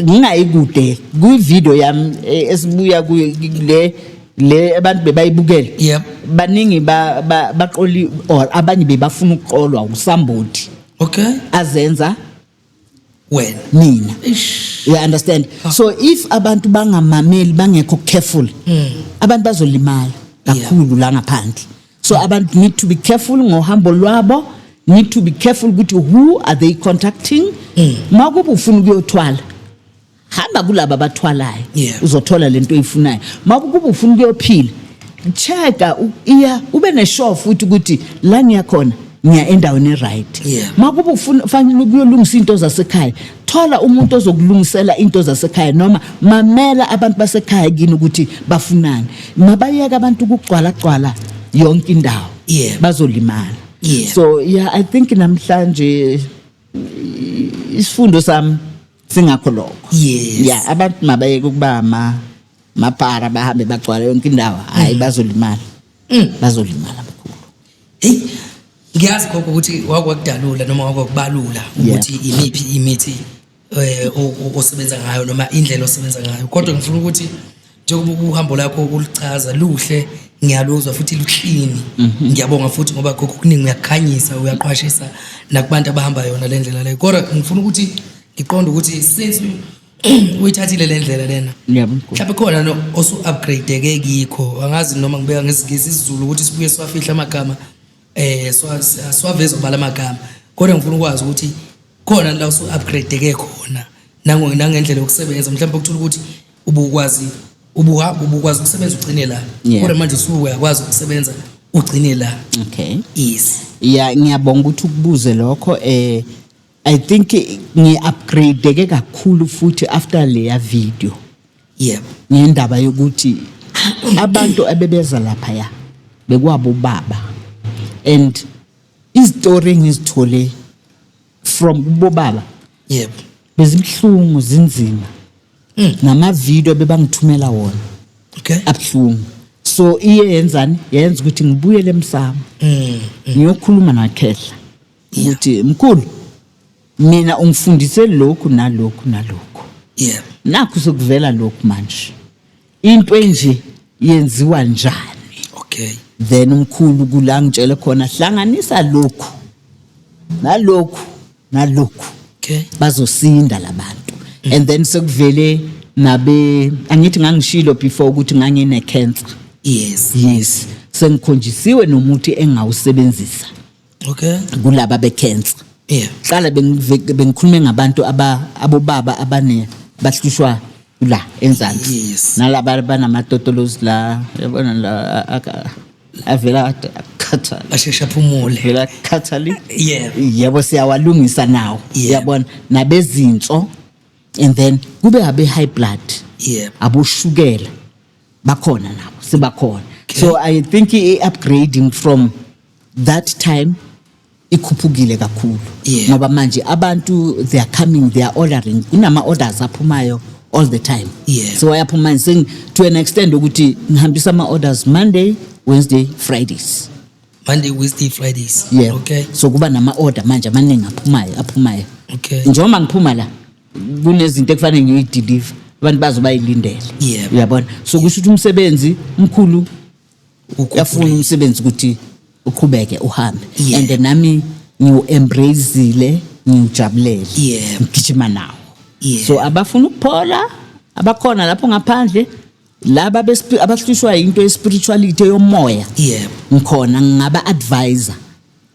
Speaker 1: ngingayi kude kwivideo yami eh, esibuya kuyo le le abantu bebayibukele Yep. baningi ba- ba- baqoli or abanye bebafuna ukuqolwa usambodi Okay. azenza wena mina you understand so if abantu bangamameli bangekho careful hmm. abantu bazolimala kakhulu la ngaphandle so abantu need to be careful ngohambo lwabo need to be careful ukuthi who are they contacting hmm. makuba ufuna ukuyothwala hamba kulaba abathwalayo Yeah. uzothola lento oyifunayo makukuba ufuna ukuyophila checka u- iya ube neshow futhi ukuthi la ngiya khona ngiya endaweni eright Yeah. makuba ufuna fanele ukuyolungisa into zasekhaya thola umuntu ozokulungisela into zasekhaya noma mamela abantu basekhaya kini ukuthi bafunani mabayeka abantu ukugcwala gcwala yonke indawo Yeah. bazolimala Yeah. so yeah i think namhlanje isifundo sami singakho lokho Yes. ya abantu mabayeke ukuba ma mapara bahambe bagcwala yonke indawo hayi bazolimala bazolimala mkhulu Hey,
Speaker 2: ngiyazi gogo ukuthi wakwakudalula noma wakwakubalula ukuthi imiphi imithi eh o- o- osebenza ngayo noma indlela osebenza ngayo. Kodwa ngifuna ukuthi njengoba uhambo lakho ukulichaza luhle ngiyaluzwa futhi luklini mhm. ngiyabonga futhi ngoba khokho kuningi uyakukhanyisa uyaqwashisa nakubantu abahamba yona le ndlela leyo kodwa ngifuna ukuthi ngiqonde ukuthi since uyithathile le ndlela lena mhlawumbe khona no osu-upgradeke kikho angazi noma ngibeka ngesingisi isizulu ukuthi sibuye siwafihla amagama eh siwaveza ubala amagama kodwa ngifuna ukwazi ukuthi khona la usu upgrade ke khona nango nangendlela yokusebenza mhlawumbe ukuthola ukuthi ubukwazi ubuhamba ubukwazi ukusebenza ugcine la kodwa manje usuyakwazi ukusebenza ugcine la okay yes
Speaker 1: yeah
Speaker 2: ngiyabonga
Speaker 1: ukuthi ukubuze lokho eh i think ngi upgrade ke kakhulu futhi after leya video yebo
Speaker 2: ngendaba
Speaker 1: yokuthi abantu abebeza lapha ya bekwabo baba and izitori engizithole from kubo baba yebo
Speaker 2: bezibuhlungu
Speaker 1: zinzima hmm. namavidiyo bebangithumela wona okay
Speaker 2: abuhlungu
Speaker 1: so iye yenzani yenza ukuthi ngibuyele emsamo hmm, hmm. ngiyokhuluma nakhehla ukuthi mkhulu mina ungifundise lokhu nalokhu nalokhu yeah
Speaker 2: nakho sokuvela
Speaker 1: lokhu manje into enje yenziwa njani okay then
Speaker 2: umkhulu
Speaker 1: kula ngitshele khona hlanganisa lokhu nalokhu nalokhu okay
Speaker 2: bazosinda
Speaker 1: labantu mm. and then sekuvele nabe angithi ngangishilo before ukuthi ngangine cancer yes yes sengikhonjisiwe nomuthi engawusebenzisa okay
Speaker 2: kulaba bekhensa
Speaker 1: yeah qala bengikhulume ngabantu aba abobaba abane bahlushwa la enzansi yes. nalaba
Speaker 2: banamatotolozi
Speaker 1: la yabona la avela akhathala asheshe aphumule
Speaker 2: vela akhathali
Speaker 1: yeah yebo
Speaker 2: siyawalungisa
Speaker 1: nawo yeah. yabona nabezinso and then kube abe high blood yeah.
Speaker 2: aboshukela
Speaker 1: bakhona nabo sebakhona so i think i-upgrading from that time ikhuphukile kakhulu Yeah. ngoba manje abantu they are coming they are ordering kunama-orders aphumayo all the time Yeah. so ayaphuma manje seng- to an extent ukuthi ngihambisa ama-orders monday wednesday fridays Monday, Wednesday, Fridays. yeah Okay. so kuba nama-order manje amaningi aphumayo aphumayo Okay. njengoba
Speaker 2: ngiphuma la
Speaker 1: kunezinto ekufanele ngiyideliver abantu bazobayilindele yeah. uyabona so kusho ukuthi umsebenzi mkhulu uyafuna umsebenzi ukuthi uqhubeke uhambe yeah. and nami ngiwu-embracile ngiwujabulele yeah. ngigijima nawo yeah. so abafuna ukuphola abakhona lapho ngaphandle laba abahlushwa yinto yespirituality yomoya yeah. ngikhona ngingaba-advisor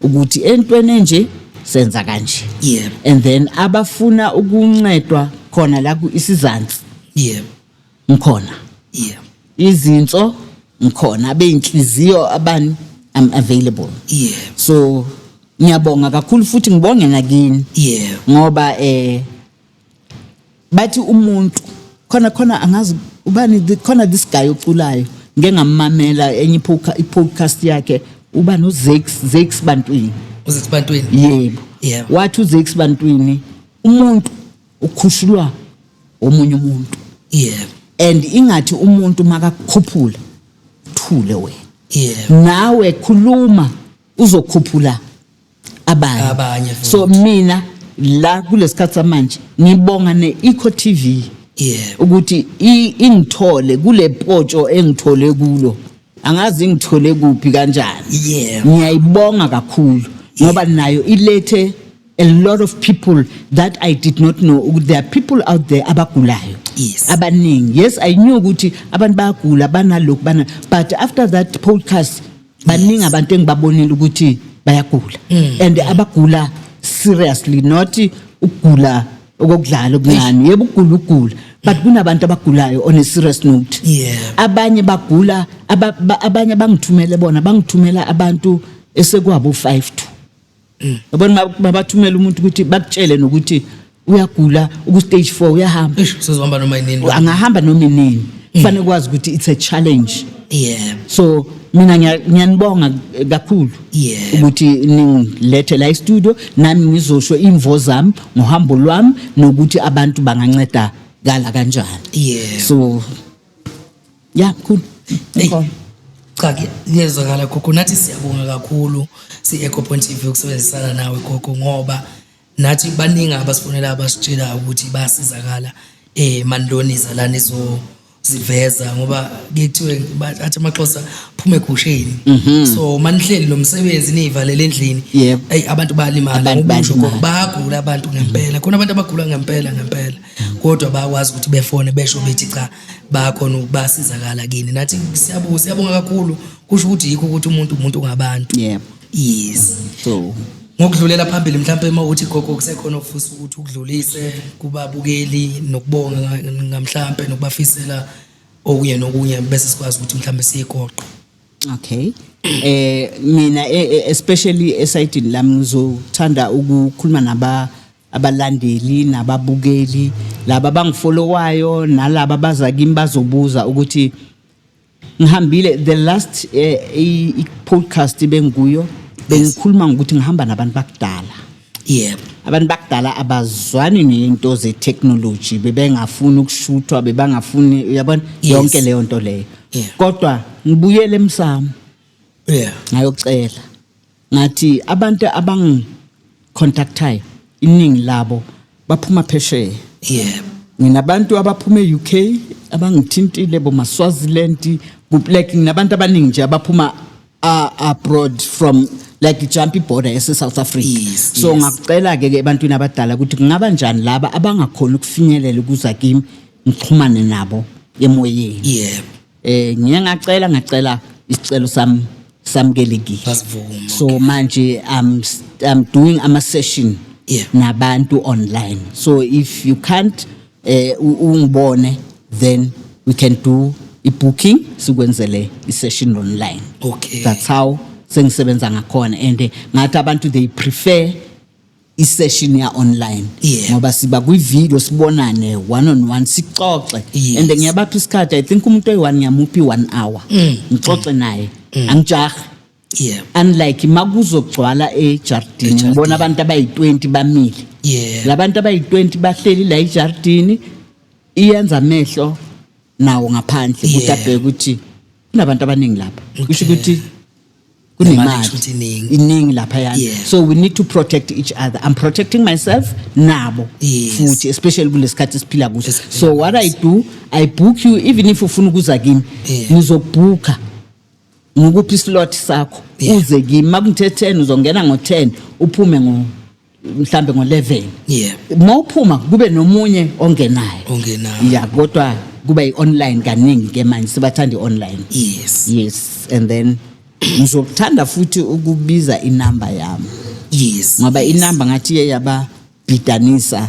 Speaker 1: ukuthi entweni enje senza kanje yeah. and then abafuna ukuncedwa khona la isizansi yeah. ngikhona yeah. izinso ngikhona abeyinhliziyo abani i'm available yeah. so ngiyabonga kakhulu futhi ngibonge nakini yeah. ngoba eh bathi umuntu khona khona angazi ubani khona this guy oculayo ngeke ngamamela enye i-podcast yakhe uba nozex zex bantwini uzex bantwini yebo yeah. wathi uzex bantwini umuntu ukhushulwa omunye umuntu yeah. and ingathi umuntu makakukhuphula thule wena yeah. nawe khuluma uzokhuphula abanye Abanye futhi. so mina la kulesikhathi samanje ngibonga ne-eco tv Yeah. ukuthi i- ingithole kule potsho engithole kulo angazi ingithole kuphi kanjani Yeah. ngiyayibonga kakhulu ngoba nayo ilethe a lot of people that i did not know ukuthi there are people out there abagulayo Yes. abaningi yes i knew ukuthi abantu bayagula banalokhu bana but after that podcast baningi abantu engibabonile ukuthi bayagula mm. and abagula seriously not ukugula okokudlala okuncane yebo ukugula ukugula but mm. kunabantu abagulayo on a serious note abanye bagula abanye bangithumele bona bangithumela abantu esekwabo 5 to yabona babathumela umuntu ukuthi bakutshele nokuthi uyagula uku-stage four uyahamba Eish, usezohamba noma yinini
Speaker 2: angahamba noma inini
Speaker 1: kufanele kwazi ukuthi it's a challenge yebo so mina ngiya- ngiyanibonga eh, kakhulu Yebo. ukuthi ningilethe la estudio nami ngizosho imvo zami ngohambo lwami nokuthi abantu bangancedakala kanjani yebo so ya mkhulu
Speaker 2: Mkhulu. cha kuye- kuyezwakala gogo nathi siyabonga kakhulu si-ecopoint tv ukusebenzisana nawe gogo ngoba nathi baningi abasifonela abasitshela ukuthi bayasizakala um mandoniza lana izoziveza ngoba kuye kuthiwe ba- athi amaxhosa phume egusheni so manihleli lo msebenzi niyivalele endlini Mhm. Yebo. eyi abantu bayalimala Abantu ngoba usho bayalimala. gogo bayagula abantu ngempela khona abantu abagula ngempela ngempela kodwa bayakwazi ukuthi befone besho bethi cha bayakhona ukubasizakala kini nathi siyabonga siyabonga kakhulu kusho ukuthi
Speaker 1: yikho
Speaker 2: ukuthi umuntu umuntu ngabantu yebo yes so ngokudlulela phambili mhlawumbe uma uthi gogo kusekhona ofisa ukuthi ukudlulise kubabukeli nokubonga ngamhlawumbe nokubafisela okunye nokunye bese sikwazi ukuthi mhlawumbe siyigoqe okay
Speaker 1: eh mina e, e, especially esayidini lami ngizothanda ukukhuluma naba abalandeli nababukeli laba bangifolowayo nalaba baza kimi bazobuza ukuthi ngihambile the last eh, i- i- podcast bengikuyo bengikhuluma ngokuthi ngihamba nabantu bakudala yebo
Speaker 2: abantu bakudala
Speaker 1: abazwani nento ze-technology bebengafuni ukushuthwa bebangafuni uyabona Yes. yonke leyo nto leyo Yeah. kodwa ngibuyele emsamo yeah ngayocela ngathi abantu abangicontactayo iningi labo baphuma phesheya yebo nginabantu abaphuma e-UK abangithintile bomaswaziland like nginabantu abaningi nje abaphuma a- abroad from like jump ibhoda yase-south africa Yes, so yes. ngakucela-ke ke ebantwini abadala ukuthi kungaba njani laba abangakhoni ukufinyelela ukuza kimi ngixhumane nabo emoyeni yebo eh ngiye ngacela ngacela isicelo sami samukelekile Basivuma, so manje i'm s- i'm doing ama session Yeah. nabantu online so if you can't eh u- ungibone then we can do i booking sikwenzele i session online Okay. that's how sengisebenza ngakhona and eh, ngathi abantu they prefer isession ya online Yeah. ngoba siba kwi video sibonane one on one sixoxe Yes. and ngiyabapha isikhathi i think umuntu oyi-one ngiyamuphi one hour Mm. ngixoxe naye angijahi yebo unlike makuzogcwala ejardini Ejardini. ngibona abantu abayi-20 bamile Yeah. labantu abayi-20 bahleli la ejardini iyenza amehlo nawo ngaphandle ukuthi Yeah. abheke ukuthi kunabantu abaningi lapha kusho Okay. ukuthi kunemali iningi lapha yana yeah. so we need to protect each other i'm protecting myself nabo yes. futhi especially kulesikhathi siphila kuso yes. so what i do i book you even if ufuna ukuza kimi yeah. ngizokubhukha ngikuphi islot sakho yeah. uze kimi makungithe 10 uzongena ngo 10 uphume ngo mhlambe ngo-11 yeah uma uphuma kube nomunye ongenayo ongenayo ya kodwa kuba i-online kaningi ke manje sibathanda i-online yes yes and then ngizokuthanda futhi ukubiza inamba yami yes ngoba inamba ngathi iye yababhidanisa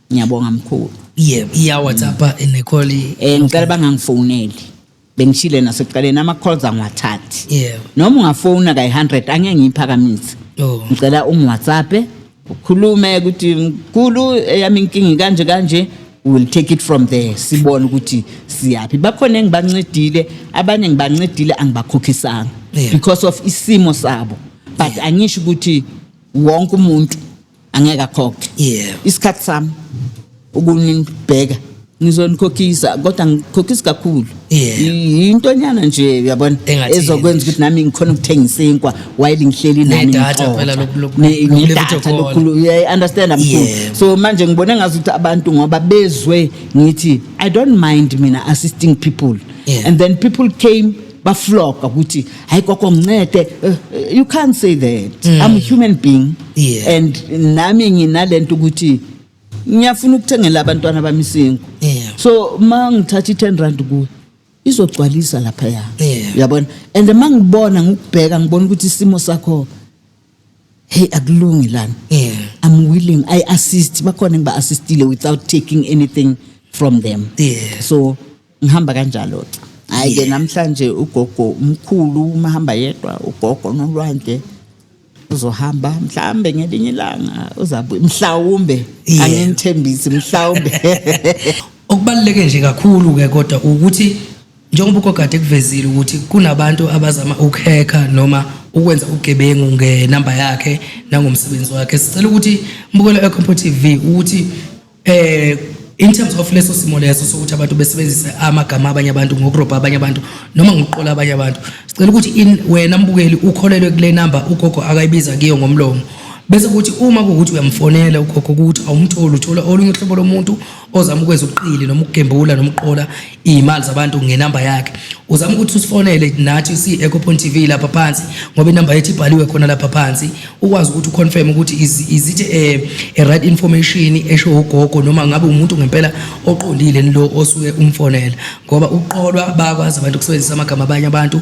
Speaker 1: ngiyabonga mkhulu yebo iya whatsapp
Speaker 2: ene call eh ngicela
Speaker 1: bangangifoneli bengishile nasekuqaleni ama calls angiwathathi yebo noma ungafona ka 100 angeke ngiphakamise oh. ngicela um whatsapp ukhulume ukuthi mkhulu eyami inkingi kanje kanje will take it from there sibone ukuthi siyaphi bakhona engibancedile abanye ngibancedile angibakhokhisanga yeah. because of isimo sabo but yeah. angisho ukuthi wonke umuntu angeke akhokhe yebo isikhathi sami ukunibheka ngizonikhokhisa kodwa ngikhokhisa kakhulu Yeah. I- intonyana nje uyabona Engathini. ezokwenza ukuthi nami ngikhona ukuthenga isinkwa while ngihleli nani Nedata ngixoxa. phela loku- loku-
Speaker 2: Ne- loku- nedata loku- loku-
Speaker 1: lokukhulu yeah, understand mkhulu Yeah. so manje ngibone ngazi ukuthi abantu ngoba bezwe ngithi i don't mind mina assisting people Yeah. and then people came bafloga ukuthi hayi gogo ngincede eh, eh, you can't say that mm. i'm a human being yeah. and nami nginalento ukuthi ngiyafuna ukuthengela abantwana bami isingu yeah. so ma ngithatha i-10 rand kuwe izogcwalisa lapha ya yeah. yabona and ma ngibona ngikubheka ngibona ukuthi isimo sakho hey akulungi lana yeah i'm willing i assist bakhona ngiba assistile without taking anything from them Yeah. so ngihamba kanjalo hayi ke namhlanje ugogo umkhulu uma hamba yedwa ugogo nolwandle uzohamba mhlawumbe ngelinye ilanga uzabuya mhlawumbe Yeah. anginithembisi mhlawumbe
Speaker 2: okubaluleke nje kakhulu ke kodwa ukuthi Njengoba uGogade kuvezile ukuthi kunabantu abazama ukuhekha noma ukwenza ugebengu ngenamba yakhe nangomsebenzi wakhe sicela ukuthi mbukelo eCompo TV ukuthi eh in terms of leso simo leso sokuthi abantu besebenzise amagama abanye abantu ngokurobha abanye abantu noma ngokuqola abanye abantu sicela ukuthi in wena mbukeli ukholelwe kule number ugogo akayibiza kiyo ngomlomo bese kuthi uma kuwukuthi uyamfonela ugogo ukuthi awumtholi uthola olunye uhlobo lomuntu ozama ukwenza ubuqili noma ukugembula noma uqola iy'mali zabantu ngenamba yakhe uzama ukuthi usifonele nathi si-eco point tv lapha phansi ngoba inamba yethu ibhaliwe khona lapha phansi ukwazi ukuthi uconfirm ukuthi is it a, a right information esho ugogo noma ngabe umuntu ngempela oqondile lo osuke umfonela ngoba uqolwa bakwazi abantu ukusebenzisa amagama abanye abantu